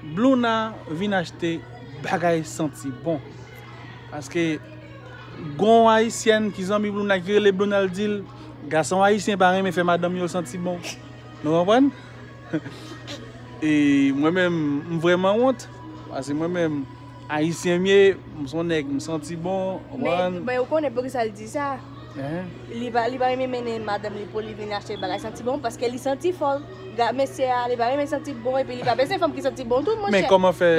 Blouna vin achte bagay santi bon paske gon ayisyèn ki zanmi blouna ki rele blouna l dil gason ayisyen pa renmen fè madanm yo santi bon nou konprann e mwen menm m vrèman wont pase mwen menm Ayisyen m ye, m son nèg, m santi bon, konprann. Men ou konnen poukisa l di sa? Li pa renmen mennen madanm li pou li vin achte bagay santi bon paske li santi fò. Gade mesye a, li pa renmen santi bon epi li pa bezwen fanm ki santi bon tou monchè. Men kòman fè,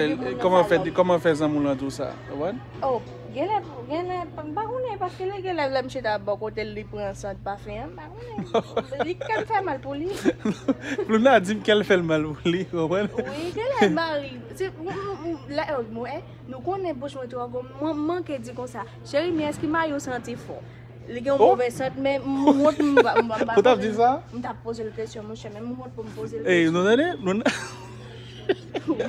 kòman fè, kòman fè zanmi w lan di w sa, ou konprann? O, genlè, genlè, m pa konnen paske lè genlè lè mouche ta bò kote l li pran sant pafen an, m pa konnen. Li kè m fè mal pou li. Louna di m kè l fè l mal pou li, ou konprann? Wi, genlè mari. Nou konnen bouch mwen twò gwo mwen manke di konsa cheri men eske mayow santi fò li gen yon movè sant men m wont m ta poze l kesyon monchè men m wont pou m poze l kesyon nou tande m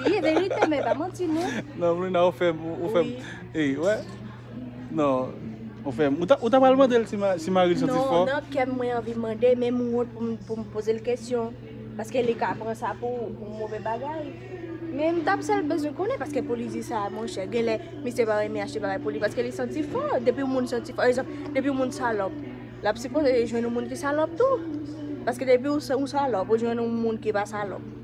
wi e verite m e pa manti non nan m wont m ta poze l kesyon monchè men m wont pou m poze l kesyon Non Ou fèm Ou ta pral mandel si maril santi fò? Non nan kèm mwen anvi mande men m wont poum pozel kesyon paske li ka pran sa pou move bagay men m tap sèl bezwen konnen paske pou li di sa monchè genlè misye pa renmen achte bagay pou li paske li santi fò depi yon moun santi fò egzanp depi yon moun salòp lap sipoze jwenn yon moun ki salòp tou paske depi ou salòp ou jwenn yon moun ki pa salòp.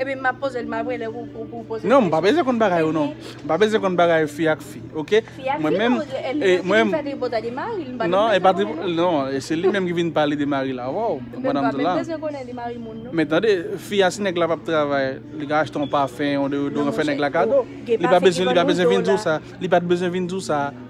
Epi map pozel map rele ou pou ou pozel. Non mpa bezwen konn bagay ou non. Mpa bezwen konn bagay fi ak fi ok. Fi ak fi non e li menm ki vin fè tripotay de maril mpa menm bezwen konnen non. Non e se li menm ki vin pale de maril avèw pandan map di la. Mpa menm bezwen konnen li mari moun non. Men tande fi a si nèg la pap travay li ka achte yon pafen yon deodoran fè nèg la kado. Li pa bezwen li pa bezwen vin diw sa. Li pat bezwen vin diw sa.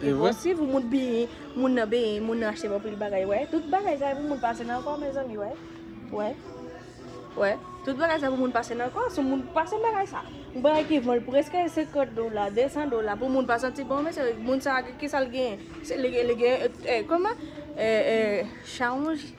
Se vre. Eposib pou moun benyen, moun nan benyen, moun nan achte anpil bagay wè. Tout bagay sa e pou moun pase nan kò mezanmi wè. Wè. Wè. Tout bagay sa pou moun pase nan kò, sou moun pase bagay sa. Yon bagay ki vo l preske 50 dola, 200 dola pou moun pa santi bon mesye moun sa ki sa l genyen. Se li gen li gen kòman? E e chawonj.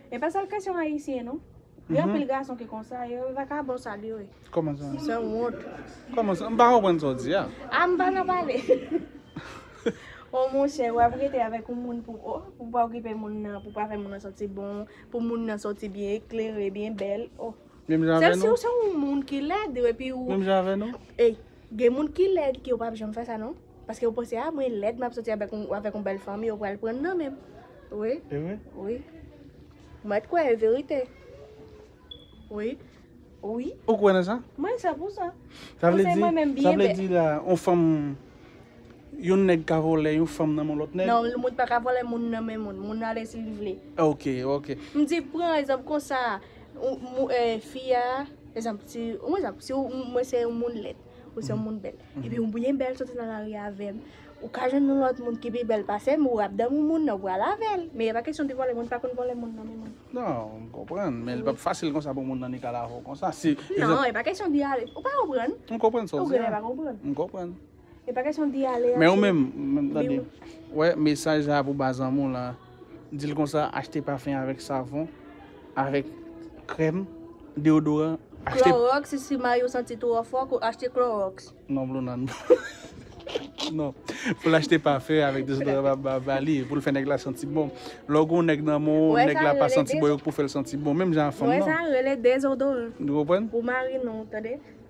E pa sèl kesyon ayisyen non. Gen anpil gason ki konsa, yo vakabon sal yo ye. Koman sa? San wont. Koman sa? M pa konprann sa w di a. A m pa nan pale. O monchè, w ap rete avèk yon moun pou o, pou w pa okipe moun nan, pou w pa fè moun nan santi bon, pou moun nan soti byen eklere, byen bèl, o. Menm jan avè nou? Se si w se yon moun ki lèd epi ou. Menm jan avè nou? Ey, gen moun ki lèd ki yo pa p janm fè sa non. Paske yo panse ah mwen lèd map soti avèk yon avèk yon bèl fanm yo pral prann nan menm wi Evre? wi Mèt kwè e verite wi wi Ou kwè nan sa? Mwen sè pou sa Sa vle di sa vle di la yon fanm yon nèg ka vòlè yon fanm nan men lòt nèg? Non yon moun pa ka vòlè moun nan men moun moun ale si li vle Ok ok M di pran egzanp konsa fi a egzanp si yon egzanp si mwen se yon moun lèd Ou se yon moun bèl. Epi ou byen bèl soti nan lari avè m. Ou ka jwenn yon lòt moun ki pi bèl pase m, ou ap damou moun nan, ou pral avè l. Men e pa kesyon de vòlè, moun pa konn vòlè moun nan men moun. Non, m konprann. Men li pa p fasil konsa pou moun nan nik al avè w konsa. Si, egzanp. Non, e pa kesyon di ale. Ou pa konprann? M konprann sa w di a. Ou genlè pa konprann. M konprann. E pa kesyon di ale a. Men ou menm, tande, wè mesaj sa a pou ba zanmi w lan. Di l konsa, achte pafen avèk savon, avèk krèm, deodoran, achte. Klorox, si may ou santi twò fò, ko achte klorox. Non blo nan. Non. Pou l achte pafen avèk dezodoran ba ba li, pou l fè nèg la santi bon. Lè w gen yon nèg nan men w, nèg la pa santi bon, yo k pou fè l santi bon, menm jan a fanm nan. Wè sa rele dezodoran. Ou konprann? Pou mari nou, tande.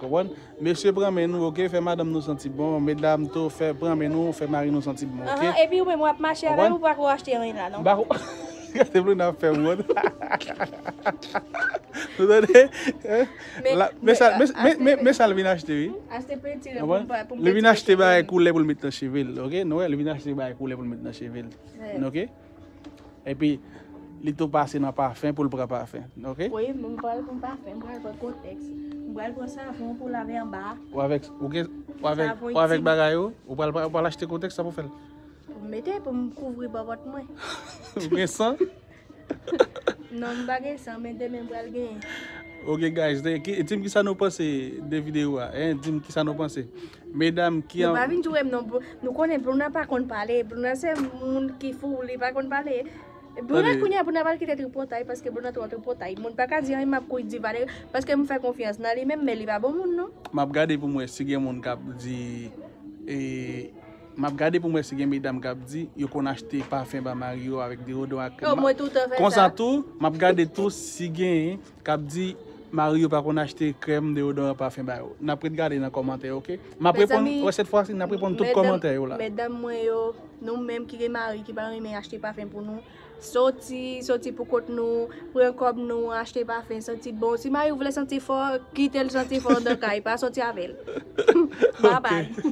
Konprann? Mesye pran men nou ok, fè madanm nou santi bon, medam tou fè pran men nou, fè mari nou santi bon ok. Ahan epi ou menm wap mache avèl ou pako achte anyn la non. Bako Gade Blonde ap fè wont. Nou tande? Men sal vin achte wi. Achte pentire pou m pa poum pentire chevem. Li vin achte bagay koulè poul met nan chevel ok, nou wè li vin achte bagay koulè poul met nan chevel ok. Epi li tou pase nan pafen pou l pran pafen ok. Wi m pranl pou pafen m pral pran kotex m pral pran savon pou lave anba. Ou avek ou gen ou avek bagay ou ou pral achte kotex sa pou fel. Pou m mete pou m kouvri bòbòt mwen. Ou gen san? Non m pa gen san men demen m pral genyen. Ok guys di m kisa nou panse de video a hein di m kisa nou panse. Medam ki an. Nou pa vin jourem non nou konnen bruna pa konn pale bruna se moun ki fou li pa konn pale bruna kounya bruna pral kite tripotay paske bruna tro tripotay moun paka di anyen map kouri di vale paske mfè konfyans nan li menm men li pa bon moun non. Map gade poum wè si gen moun kap di map gade poum wè si gen medam kap di yo konn achte pafen ba mari yo avèk deodoran ak krèm konsa tou map gade tou si gen kap di mari yo pa konn achte krèm deodoran pafen ba yo nap ret gade nan kòmantè yo ok map reponn wè sèt fwa si nap reponn tout kòmantè yo la medam mwen yo nou menm ki gen mari ki pa renmen achte pafen pou nou soti soti pou kont nou pran kòb nou achte pafen santi bon si mariw vle santi fò kitel santi fò nan kay pa soti avèl babay.